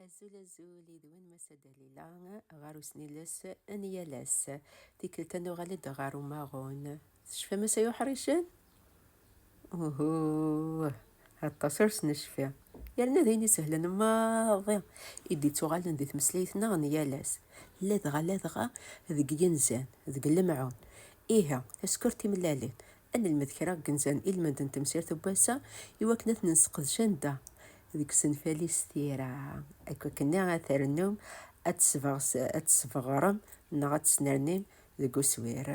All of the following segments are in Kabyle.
Azul azul yid-wen Massa Dalila ɣer usniles n yal ass. Tikkelt ad nuɣal-d ɣer umaɣun. Tecfam asay uḥricen? Uhu, aṭas ur s-necfi. Yerna d ayen isehlen maḍi i d-ittuɣalen di tmeslayt-nneɣ n yal ass. Ladɣa ladɣa deg yinzan, deg lemɛun. Ihi, taskurt timellalin, Ad nelmed kra deg inzan ilmend n temsirt n wass-a i wakken ad ten-nesseqdec anda? Deg usenfal-is tira. Akk akken-nni ad trennum ad tt-tesbeɣrem neɣ ad tt-snernim deg uswir.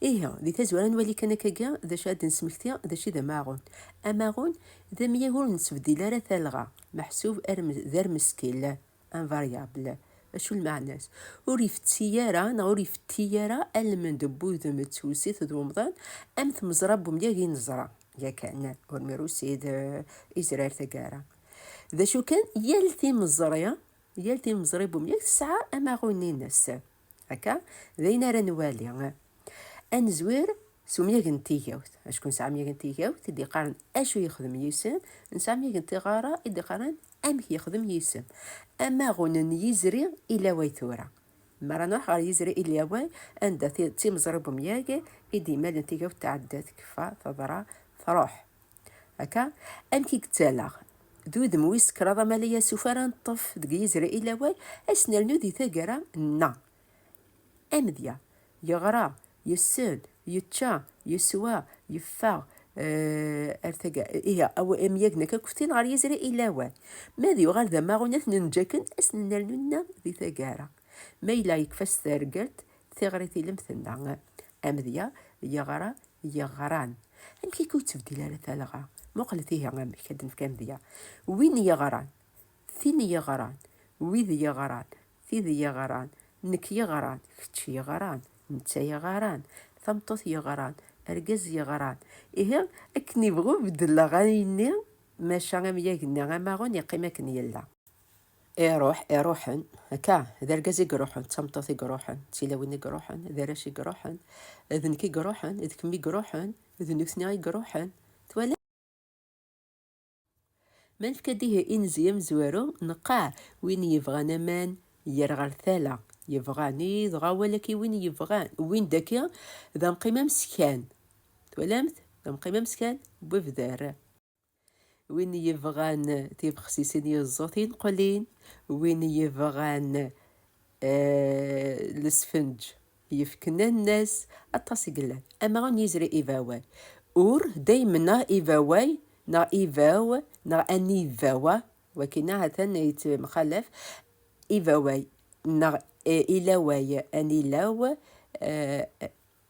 Ihi, di tazwara ad nwali kan akkagi d acu ara d-nesmekti d acu i d amaɣun. Amaɣun d amyag ur nettbeddil ara talɣa, meḥsub d armeskil. invariable. Acu lmeɛna-s? Ur ifetti ara neɣ ur ifetti ara almend n wudem d tewsit d umḍan am tmeẓra n umyag i neẓra yakan ur mirusi d izrar taggara. D acu kan, yal timeẓri yal timeẓri n umyag tesɛa amaɣun-ines. Akka, d ayen ara nwali. Ad nezwir s umyag n tigawt, acku nesɛa amyag n tigawt i d-iqqaren acu yexdem yisem, nesɛa amyag n tiɣara i d-iqqaren amek yexdem yisem. Amaɣun n yizri ilaway tura. Mi ara nruḥ ɣer yizri ilaway, anda d timeẓri n umyag i d-imalen tigawt tɛedda, tekfa, teḍra, truḥ. Akka, amek i yettaleɣ d udem wis kraḍ amal ay asuf ara neṭṭef deg Yizrayil awal, ad s-nernu di taggara n amedya, yeɣra, yessel, yečča, yeswa, yeffeɣ, ar taga, ihi amyag n akakuftin ɣer Yizrayil awal. Ma ad yuɣal d amaɣunat n njaken, ad s-nernu nna di taggara. Ma yella yekfa s tergelt, Tiɣri tilemt tenna, amedya yeɣra yeɣran. Amek akka ur tebdil ara talɣa? Muqlet ihi amek ad nefk amedya. Win yeɣran, tin yeɣran, wid yeɣran, tid yeɣran, nekk yeɣran, kečč yeɣran, netta yeɣran, tameṭṭut yeɣran, argaz yeɣran. Ihi akken ibɣu beddel aɣanen-nni, maca amyag-nni amaɣun yeqqim akken yella. Iruḥ, iruḥen, akka, d argaz i iruḥen, d tameṭṭut i iruḥen, d tilawin i iruḥen, d arrac i iruḥen, d nekk i iruḥen, d kemm i iruḥen, d nutni i iruḥen, twala? Ma nefka-d ihi inzi amezwaru, neqqar win yebɣan aman yer ɣer tala, yebɣan, i dɣa walaki win yebɣan, win daki d amqim ameskan, twalamt, d amqim ameskan, webder. Win yebɣan tibexsisin yeẓẓu tinqulin, win yebɣan eh, lesfenǧ yefken annas, aṭas i yellan. Amaɣu n yizri ibaway. Ur daymen neɣ ibaway neɣ ibaw neɣ anibawa, wakina ha-t-an yettemxalaf, ibaway neɣ eh, ilaway, anilaw, eh,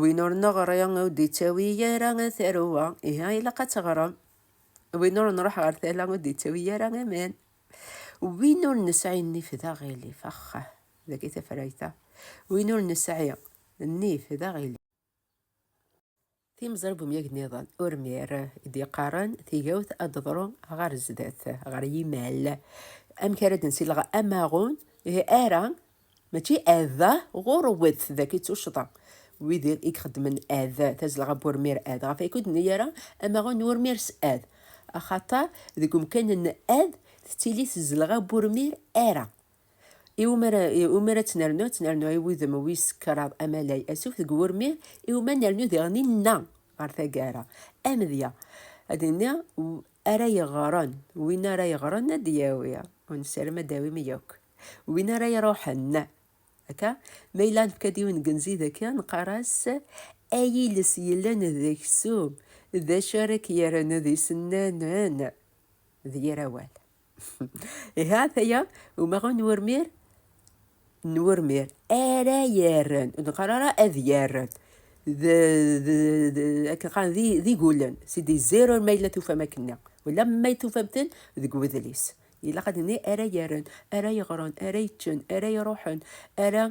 Win ur neɣri ur d-ittawi ara taruwa, iha ilaq ad teɣrem. Win ur nruḥ ɣer tala ur d-ittawi ara aman. Win ur nesɛi nnif d aɣilif, axxah, dagi tafrayt-a. Win ur nesɛi nnif d aɣilif. Timẓri n umyag niḍen, Urmir i d-yeqqaren tigawt ad d-teḍru ɣer zdat, ɣer yimal. Amek ara d-nsileɣ amaɣun? Ihi ara, mačči ad, ɣurwet d akka i tuccḍa. Wid i ixeddmen ad, tazelɣa n wurmir ad, ɣef wakud nni ara amaɣun n wurmir s ad. Axaṭer deg umkan n ad tettili tzelɣa n wurmir ara. Iwumi ara, iwumi ara tt-nernu? Ad tt-nernu i wudem wis kraḍ amalay asuf deg wurmi, iwumi ad nernu diɣen inna ɣer taggara. Amedya, ad d-nini ara yeɣren, win ara yeɣren ad d-yawi, ur nessaram ad d-tawim yakk, win ara iruḥen. Akka, ma yella nefka-d yiwen n yenzi daki, neqqar-as ay iles yellan d aksum, d acu ara k-yerren d isennanen? D yir awal. Iha taya umaɣu n urmir n urmir ara yarren ur d-neqqar ara ad yarren akken qqaren d igulen si d zero ma yella tufam akken wala ma tufam-ten deg wedlis ilaq ad nini ara yarren ara yeɣren ara yeččen ara iruḥen ara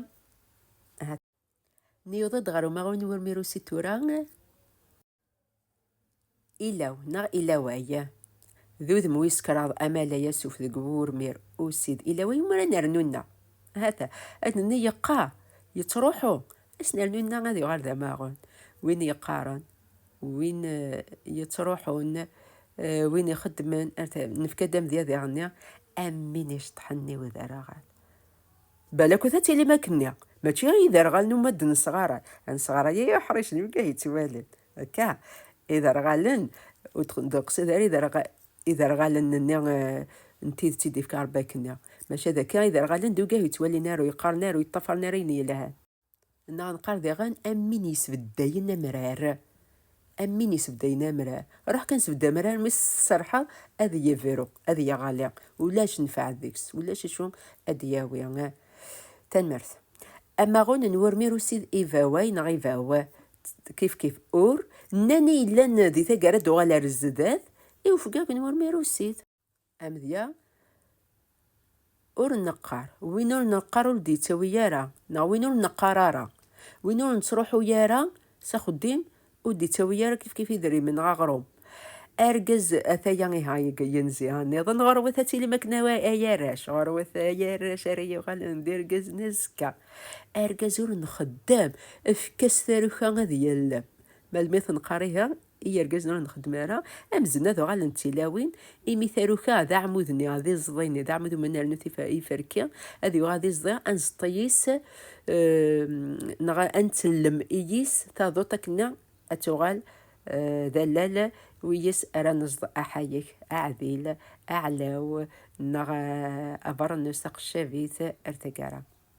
niyuḍ-d ɣer umaɣu n urmir usi tura Ilaw neɣ ilaway d udem wis kraḍ amalay asuf deg wurmir usid ilaway umi ara nernu-nneɣ. Hata, ad nenni yeqqa, yettruḥu, ad s-nernu-nneɣ ad yuɣal d amaɣun. Win yeqqaren, win eh, yettruḥun, eh, win ixeddmen, nefka-d amedya diɣ-nni am win iceṭṭḥen i udaraɣan. Balakut ad tilim akkenni, mačči i yiderɣalen umi d-nesɣaray, anesɣaray-a i uḥric n wigi yettwalin akka, iderɣalen, ur d-teqsid ara iderɣalen-nni n tidet i d-yefka Rebbi akkenni, maca d akka iderɣalen d wigi ur yettwalin ara, ur yeṭṭafaren ara ayen yelhan. Neɣ nqar diɣen am win yesbeddayen amrar. Am win yesbeddayen amrar. Ruḥ kan sbedd amrar, mi s-tserḥeḍ ad yebru, ad yeɣli. Ulac nfeɛ deg-s, ulac acu ad d-yawi. Tanmert. Amaɣun n wurmir ussid ivaway neɣ ivaw, kifkif ur, nnan i yellan di taggara d uɣal ar zdat, i ufgag n wurmir ussid. Amedya, ur neqqar, win ur neqqar ur d-yettawi ara, neɣ win ur neqqar ara. Win ur nettruḥu ara s axeddim ur d-yettawi ara kifkif idrimen neɣ aɣrum. Argaz, ataya iha yenzi nniḍen, ɣurwet ad tilim akken ay arrac, ɣurwet ay arrac ara yuɣalen d irgazen azekka. Argaz ur nxeddem, efk-as taruka ad yellem. Melmi tenqar ihi, i yergazen ur nxeddem ara, amzen ad uɣalent tilawin, imi taruka d aɛmud-nni, d iẓḍi-nni, d aɛmud umi nernu iferki, ad yuɣal d iẓḍi, ad nzeṭṭ-iyi-s neɣ ad ntellem iyi-s taduṭ akken-nni ad tuɣal d allal wiyes ara nezḍ aḥayek, aɛdil, aɛlaw neɣ abeṛnus, taqeccabit ar taggara.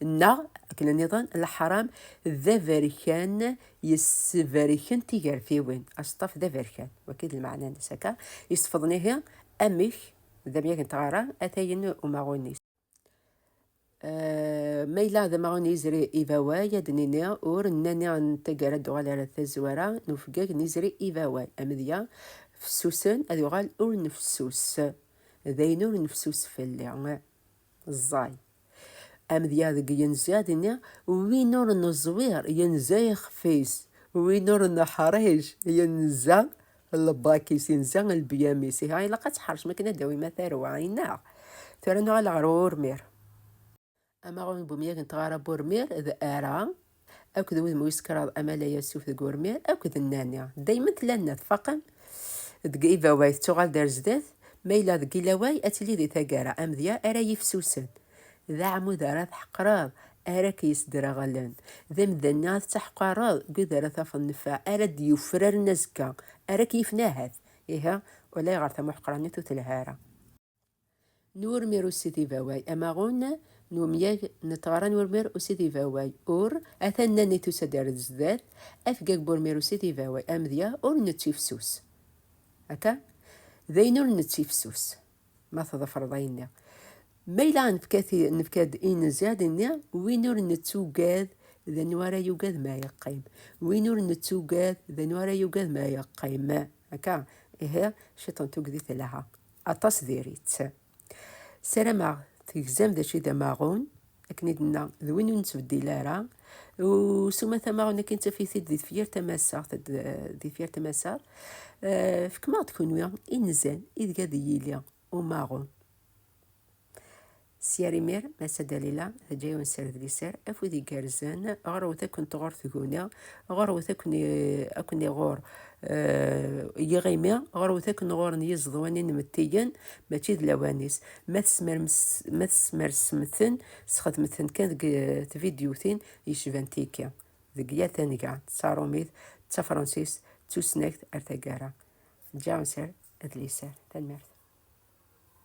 Neɣ, akken nniḍen, leḥram d aberkan yesseberken tigertiwin. Aseṭṭaf d aberkan, waki d lmeɛna-nnes akka, yesefḍen ihi amek d amyag n tɣara atayen umaɣun-is. Eh, ma yella d amaɣun yizri ibaway ad nini ur nani n taggara d-uɣal ar tazwara n ufeggag n yizri ibaway amedya fessusen ad uɣal ur nefsus d ayen ur nefsus fell-i Ẓẓay. Amedya deg yenzi ad ini, win ur neẓwir yenza ixef-is, win ur neḥric yenza lbak-is, yenza lbyam-is. Ihi ilaq ad tḥercem akken ad d-tawim a tarwa, i neɣ? Tura nuɣal ɣer urmir. Amaɣun n umyag n tɣara n urmir d ara. akked wudem wis kraḍ amalay asuf deg urmir akked nnani daymen tella nna tfaqen deg ibaway tettuɣal d ar zdat ma yella deg ilaway ad tili di taggara amedya ara yifsusen d aɛmud ara tḥeqreḍ ara k-yesdreɣlen d imdanen ara tettaḥqareḍ deg wid ara tafeḍ nnfa ara d-yufraren azekka ara k-yifen ahat ihi ulayɣer tamuḥeqranit ur telha ara. n urmir ussid ibaway, amaɣun n umyag n tɣara n urmir ussid ibaway, ur, ata nnan i tusa-d ar zdat, afgag n urmir ussid ibaway, amedya ur nettifsus, akka? d ayen ur nettifsus, ma tḍefreḍ ayenni, ma yella nefka-d i nezya d inni, win ur nettugad d anwa ara yugad ma yeqqim, win ur nettugad d anwa ara yugad ma yeqqim. Akka, ihi ciṭ n tugdi telha, aṭas diri-tt. Sarameɣ tegzam d aci d amaɣun, akken i d-nna, d win ur nettbeddil ara, u s umata amaɣun akken ttaf-it-id di tefyirt tamasaɣt, di tefyirt tamasaɣt, fkem-aɣ-d kunwi inzan ideg ad yili umaɣun. S yar imir, Massa Dalila teǧǧa-yawen sser d liser, afud igerrzen, ɣerwet akken tɣur tguni, ɣerwet akken akken iɣur eh, yiɣimi, ɣerwet akken ɣuren yiẓeḍwan inmettiyen, mačči d lawan-is. Ma tesmermes- ma tesmersem-ten, sxedmet-ten kan deg eh, tvidyutin yecban tiki, deg yal tanga, d taṛumit, d tafransist, d tusnakt, ar taggara. Ǧǧa-yawen sser d liser. Tanemmirt.